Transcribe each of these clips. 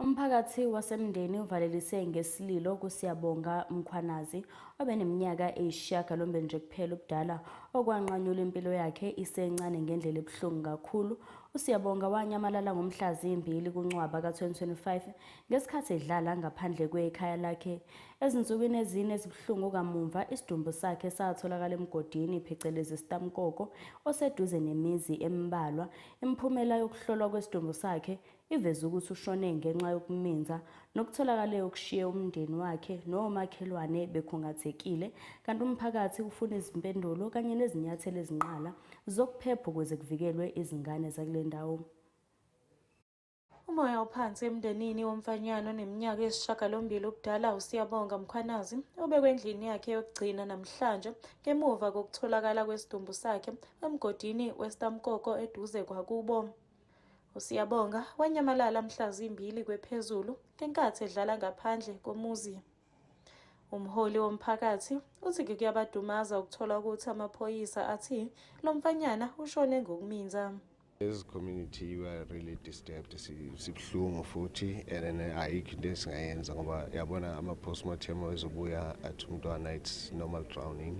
Umphakathi wasemndeni uvalelise ngesililo kuSiyabonga Mkhwanazi obeneminyaka eyisishiyagalombili nje kuphela ubudala okwanqanyula impilo yakhe isencane ngendlela ebuhlungu kakhulu. USiyabonga wanyamalala ngomhla zimbili kuNcwaba ka-2025 ngesikhathi edlala ngaphandle kwekhaya lakhe. Ezinsukwini ezine ezibuhlungu kamumva isidumbu sakhe satholakala emgodini phecelezi isitamkoko oseduze nemizi embalwa. Imiphumela yokuhlolwa kwesidumbu sakhe Iveze ukuthi ushone ngenxa yokuminza nokutholakale okushiye umndeni wakhe nomakhelwane bekhungathekile kanti umphakathi ufuna izimpendulo kanye nezinyathelo ezinqala zokuphepha ukuze kuvikelwe izingane zakule ndawo. Umoya ophansi emndenini womfanyana oneminyaka eyisishagalombili ubudala uSiyabonga Mkhwanazi obekwe endlini yakhe yokugcina namhlanje ngemuva kokutholakala kwesidumbu sakhe emgodini weStamkoko eduze kwakubo. USiyabonga wanyamalala mhla zimbili kwephezulu ngenkathi edlala ngaphandle komuzi. Umholi womphakathi uthi kuyabadumaza ukuthola ukuthi amaphoyisa athi lo mfanyana ushone ngokuminza. As community we are really disturbed sibuhlungu futhi and ayikho into esingayenza ngoba yabona ama postmortem ezobuya athi umntwana it's normal drowning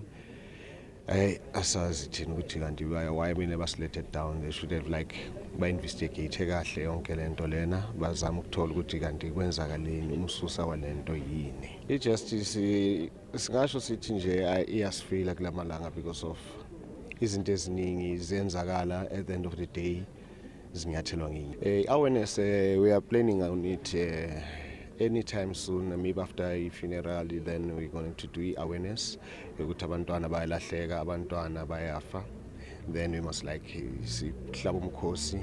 Hey, asazi thina ukuthi kanti why mina basilethe down they should have like ba-investigate kahle yonke le nto lena bazama ukuthola ukuthi kanti kwenzakaleni umsusa wale nto yini i-justice singasho sithi nje iyasifila kula malanga because of izinto eziningi ziyenzakala at the end of the day zinyathelwa ngenye eh, awareness eh, we are planning on it eh, anytime soon maybe after i-funeral then we're going to do i-awareness yokuthi abantwana bayalahleka abantwana bayafa then we must like sihlaba umkhosi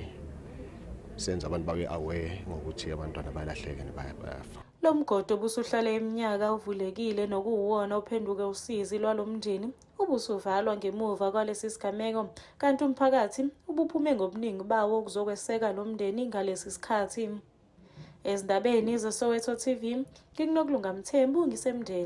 senze abantu babe aware ngokuthi abantwana bayalahleka nebayafa lo mgodo obusuhlale iminyaka uvulekile nokuwuwona ophenduke usizi lwalo mndeni ubusuvalwa ngemuva kwalesi sigameko kanti umphakathi ubuphume ngobuningi bawo ukuzokweseka lo mndeni ngalesi sikhathi ezindabeni zesoweto tv ngikunokulunga mthembu ngisemndeni